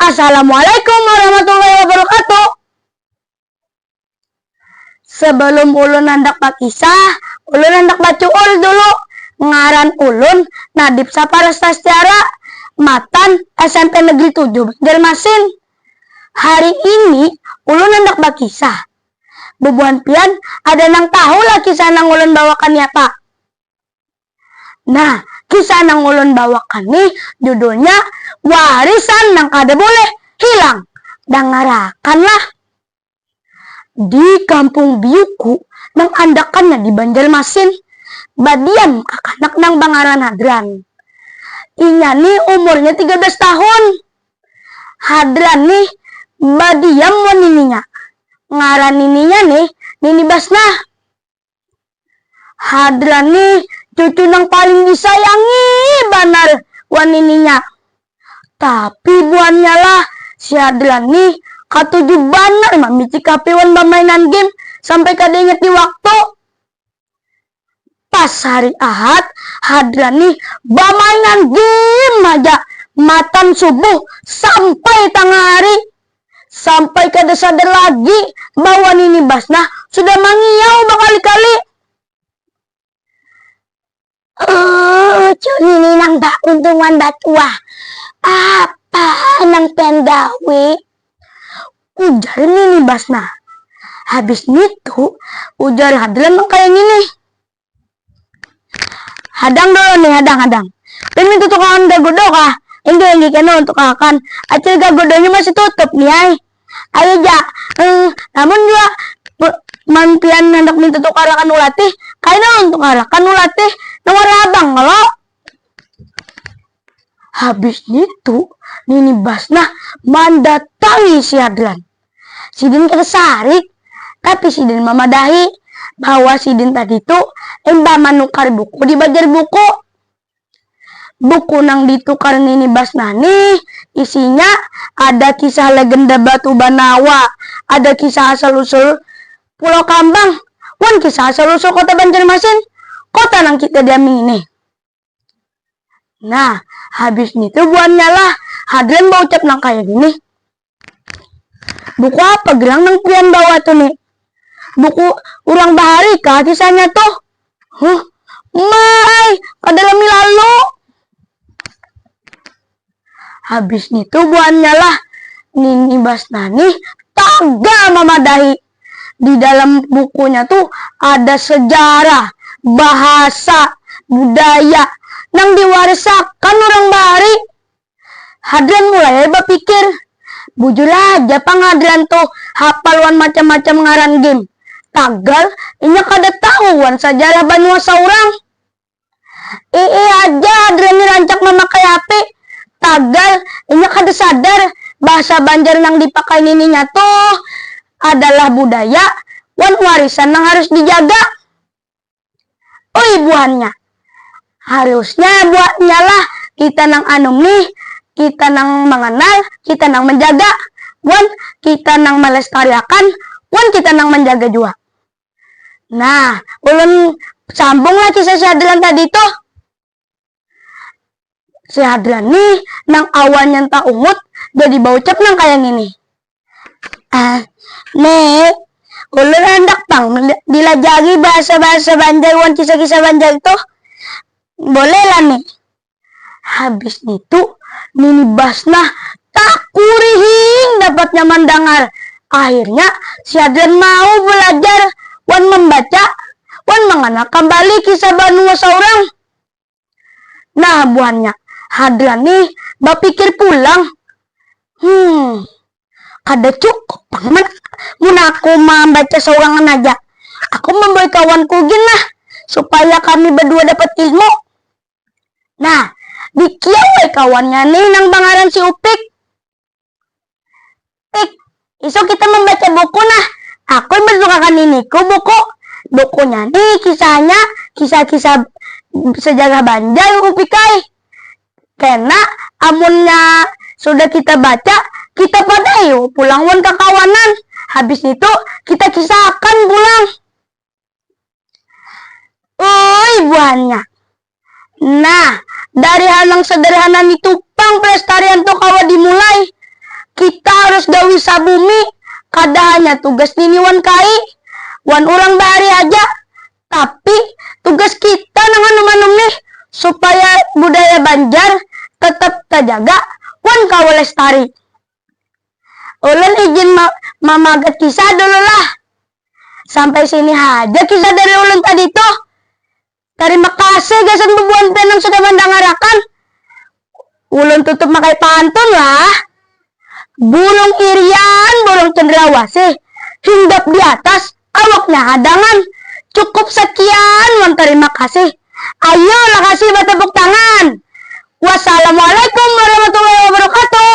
Assalamualaikum warahmatullahi wabarakatuh. Sebelum ulun handak bakisah, ulun handak bacuul dulu. Ngaran ulun Nadip Saparas Tastiara, matan SMP Negeri Tujuh Banjarmasin. Hari ini ulun handak bakisah. Bubuhan pian ada nang tahu lah kisah nang ulun bawakan ni apa? Nah, kisah nang ulun bawakan nih judulnya Warisan nang Kada Boleh Hilang. Dangarakanlah. Di Kampung Biuku nang andakannya di Banjarmasin, badiam kakanak nang bangaran Hadran. Inya nih umurnya tiga belas tahun. Hadran nih badiam wan nininya. Ngaran nininya nih Nini Basnah. Hadran nih cucu nang paling disayangi banar wan nininya. Tapi buhannya lah, si Hadran nih katuju banar mamicik HP wan bamainan game sampai kada ingat di waktu. Pas hari Ahad, Hadran nih bamainan game haja matan subuh sampai tangah hari. sampai kada sadar lagi bahwa Nini Basnah sudah mangiau bakali-kali. Oh, ujar Nini nang bauntung wan batua. Apa nang pian gawi? Ujar Nini Basnah. Habis nitu, ujar Hadlan nang kaya ngini. Hadang dulu nih, hadang, hadang. Pin minta tukangan gagodo kah? Inggih, inggih kena untuk akan. Acil gagodonya masih tutup nih ai. Ayo ja, eh, namun jua man pian handak minta tukarakan ulatih, kaina ulun tukarakan ulatih nang warna abang kalo. Habis nitu, Nini Basnah mandatangi si Hadlan. Sidin kada sarik, tapi sidin mamadahi bahwa sidin tadi tu imbah manukar buku di bajar buku. Buku nang ditukar Nini Basnah nih isinya ada kisah legenda Batu Banawa, ada kisah asal-usul Pulau Kambang, wan kisah asal-usul Kota Banjarmasin, kota nang kita diami ini. Nah, habis nitu buhannya lah Hadran baucap nang kaya gini, Buku apa gerang nang pian bawa tu ni? Buku urang bahari kah kisahnya tuh? Huh, ma ai, kada lami lalu. Habis nitu buhannya lah, Nini Basnanih tagal mamadahi. Di dalam bukunya tu ada sejarah, bahasa, budaya nang diwarisakan urang bahari. Hadran mulai ai bapikir, bujur haja pang Hadran tu hapal wan macam-macam ngaran game, tagal inya kada tahu wan sajarah banua saurang. Iih haja Adrian ni rancak mamakai hape, tagal inya kada sadar bahasa Banjar nang dipakai nininya tuh adalah budaya wan warisan nang harus dijaga. Ui buhannya, harusnya buhannya lah kita nang anum nih, kita nang manganal, kita nang manjaga, wan kita nang malestariakan wan kita nang manjaga jua. Nah, ulun sambunglah kisah si Hadlan tadi tuh. Si Hadlan nih nang awalnya entah ungut jadi baucap nang kaya ngini. Ah, nek, ulun handak pang dilajari bahasa-bahasa Banjar wan kisah-kisah Banjar tuh. Bolehlah nek, Habis nitu, Nini Basnah takurihing dapatnya mandangar. Akhirnya, si Hadlan mau balajar wan mambaca wan manganal kambali kisah banua saurang. Nah, buhannya Hadlan nih bapikir pulang, Humm, kada cukup pang man mun aku mambaca saurangan haja. Aku mambawi kawanku gin lah, supaya kami badua dapat ilmu. Nah, dikiau ai kawannya nih nang bangaran si Upik. Pik, isuk kita mambaca buku nah. Akui bersukakan niniku buku. Bukunya nih kisahnya kisah-kisah sejarah Banjar Upik ai. Kena amunnya sudah kita baca, kita padai pulang wan kakawanan. Habis nitu kita kisah akan pulang. Uui buhannya. Nah, dari hal nang sederhana nitu pang pelestarian tu kawa dimulai. Kita harus gawi sabumi, kada hanya tugas nini wan kai, wan urang bahari haja, tapi tugas kita nang hanum-hanum nih supaya budaya Banjar tetap tajaga wan kawa lestari. Ulun ijin ma mamagat kisah dulu lah. Sampai sini haja kisah dari ulun tadi tuh. Tarima kasih gasan bubuhan pian nang sudah mandangarakan. Ulun tutup makai pantun lah. Burung irian, burung cendrawasih, hinggap di atas, Awaknya hadangan. Cukup sakian wan tarima kasih. Ayo lakasi batapuk tangan. Wassalamualaikum warahmatullahi wabarakatuh.